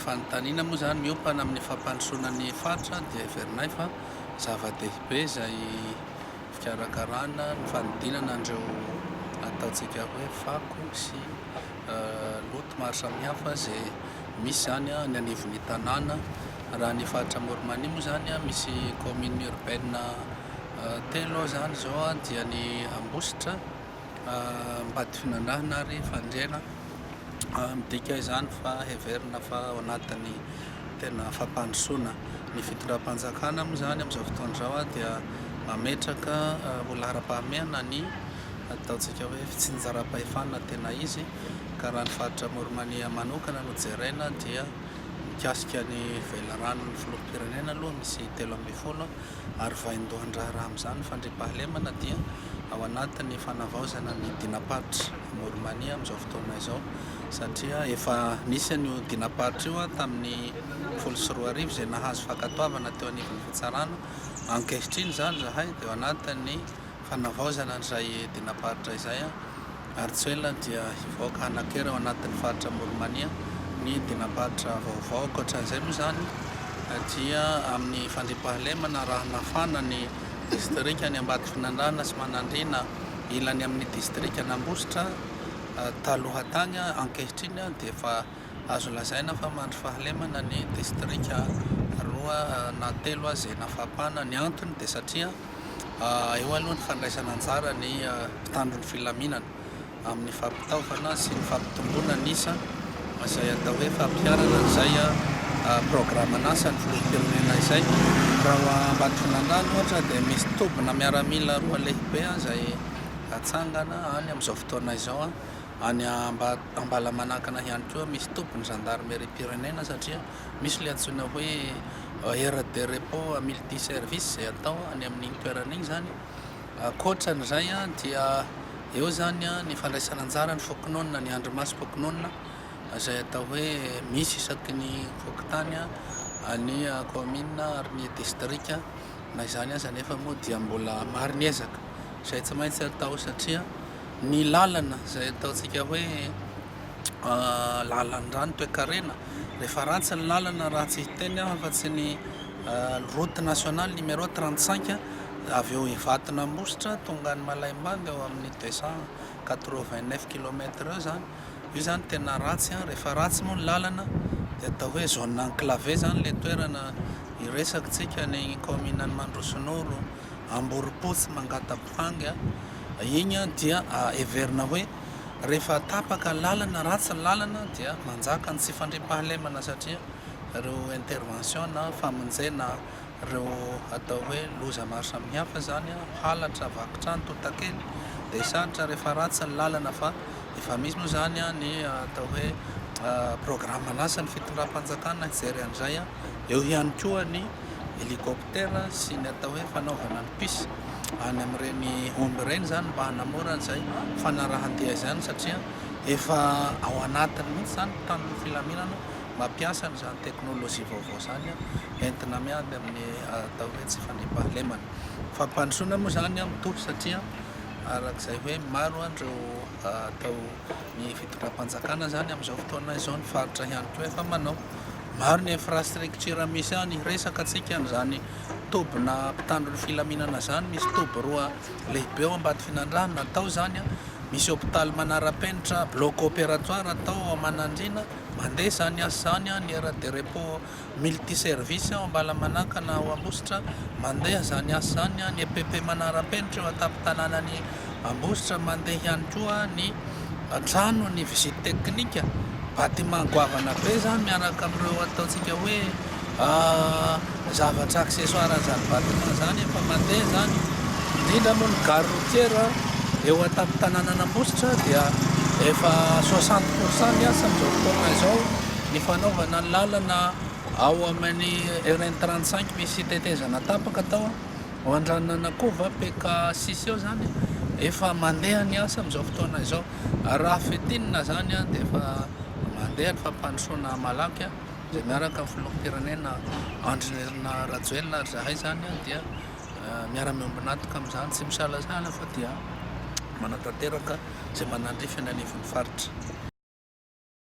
Fanontaniana moa izany miompana amin'ny fampandrosoana ny faritra dia heverinay fa zava-dehibe izay fikarakarana ny fanodinana an'ireo ataontsika hoe fako sy loto maro samihafa izay misy izany any anivon'ny tanàna. Raha ny faritra Amoron'Mania moa izany misy commune urbaine telo ao izany izao dia ny Ambositra, Ambadifinandrahana ary fandriana. Midika izany fa heverina fa ao anatin'ny tena fampandrosoana. Ny fitondram-panjakana moa izany amin'izao fotoana izao dia mametraka ho laharam-pahamehana ny ataontsika hoe fitsinjaram-pahefana tena izy ka raha ny faritra Amoron'Ania manokana no jerena dia mikasika ny velaranon'ny filoham-pirenena aloha misy telo ambin'ny folo ary vaindohan-draharaha amin'izany ny fandriampahalemana dia ao anatin'ny fanavaozana ny dinam-paritry Mormania amin'izao fotoana izao satria efa nisy an'io dinam-paritra io tamin'ny folo sy roa arivo izay nahazo fankatoavana teo anivon'ny fitsarana, ankehitriny izany izahay dia ao anatin'ny fanavaozana an'izay dinam-paritra izay ary tsy ho ela dia hivoaka hanan-kery ao anatin'ny faritra Amoron'Mania ny dinam-paritra vaovao. Ankoatran'izay moa izany dia amin'ny fandriampahalemana raha nafana ny distrikan'i Ambatofinandrahana sy Manandriana ilany amin'ny distrikan'Ambositra taloha tany, ankehitriny dia efa Azo lazaina fa mandry fahalemana ny distrika roa na telo aza eny Afapana. Ny antony dia satria eo aloha ny fandraisana anjara ny mpitandro ny filaminana amin'ny fampitaovana sy ny fampitomboana ny isa izay atao hoe fampiharana izay programan'asa ny filoham-pirenena izay. Raha Ambatondrandrano ohatra dia misy tobina miaramila roa lehibe izay atsangana any amin'izao fotoana izao. Any Ambalamanakana ihany koa misy tobin'ny zandarimeriam-pirenena satria misy ilay antsoina hoe aire de repos multi service izay atao any amin'iny toerana iny izany. Ankoatra an'izay dia eo izany ny fandraisana anjara ny fokonolona, ny andry masom-pokonolona izay atao hoe misy isaky ny fokontany, ny kaominina ary ny distrika. Na izany aza anefa moa dia mbola maro ny ezaka izay tsy maintsy atao satria... Ny lalana izay ataontsika hoe lalan-drà ny toekarena, rehefa ratsy ny lalana raha tsy hiteny aho afa tsy ny route nationale numéro trente cinq avy eo Ivaton'Ambositra tonga any Malaimbandy eo amin'ny deux cent quatre vingt neuf kilomètre eo izany, io izany tena ratsy, rehefa ratsy moa ny lalana dia atao hoe zone enclavée izany ilay toerana iresaka tsika ny kaominan'i Mandrosinoro. Amborimpotsy Mangatabohangy iny dia heverina hoe rehefa tapaka lalana, ratsy ny lalana dia manjaka ny tsy fandriampahalemana satria ireo intervention na famonjena ireo atao hoe loza maro samihafa izany, halatra, vaky trano, tontakely, dia sarotra rehefa ratsy ny lalana fa efa misy moa izany ny atao hoe programme an'asa ny fitondram-panjakana hijery an'izay, eo ihany koa ny helicoptère. Twitter sy ny atao hoe fanaovana ny puce any amin'ireny omby ireny izany mba hanamora an'izay fanarahan-dia izany satria efa ao anatiny mihitsy izany ny tanin'ny filaminana mampiasa an'izany teknolojia vaovao izany entina miady amin'ny atao hoe tsy fandriampahalemana. Fampandrosoana moa izany mitovy satria araka izay hoe maro an'ireo atao ny fitondram-panjakana izany amin'izao fotoana izao, ny faritra ihany koa efa manao. Maro ny infrastructure misy any, resaka antsika an'izany tobina mpitandro ny filaminana izany, misy toby roa lehibe ao Ambatofinandraha natao izany, misy hôpitaly manara-penitra, bloc opératoire atao ao Manandriana, mandeha izany asa izany, ny aire de repos Multiservice ao Ambalamanakana ao Ambositra, mandeha izany asa izany, ny EPP manara-penitra eo an-tampon-tanànan'i Ambositra, mandeha ihany koa ny tranon'ny visite technique, bâtiment goavana be izany miaraka amin'ireo ataontsika hoe zavatra accessoire an'izany bâtiment izany, efa mandeha izany, indrindra moa ny gare routière eo an-tampon-tanànan'Ambositra dia efa soixante pourcent ny asa amin'izao fotoana izao. Ny fanaovana lalana ao amin'ny RN 35 misy tetezana tapaka tao ao Andranonanakova, PK sisa eo izany, efa mandeha ny asa amin'izao fotoana izao. Raha fintinina izany dia efa mandeha ny fampandrosoana malaky izay miaraka amin'ny filoham-pirenena Andry Nirina Rajoelina ary izahay izany dia miara-miombon'antoka amin'izany tsy misalasala fa dia manatanteraka izay manandrify ny anivon'ny faritra.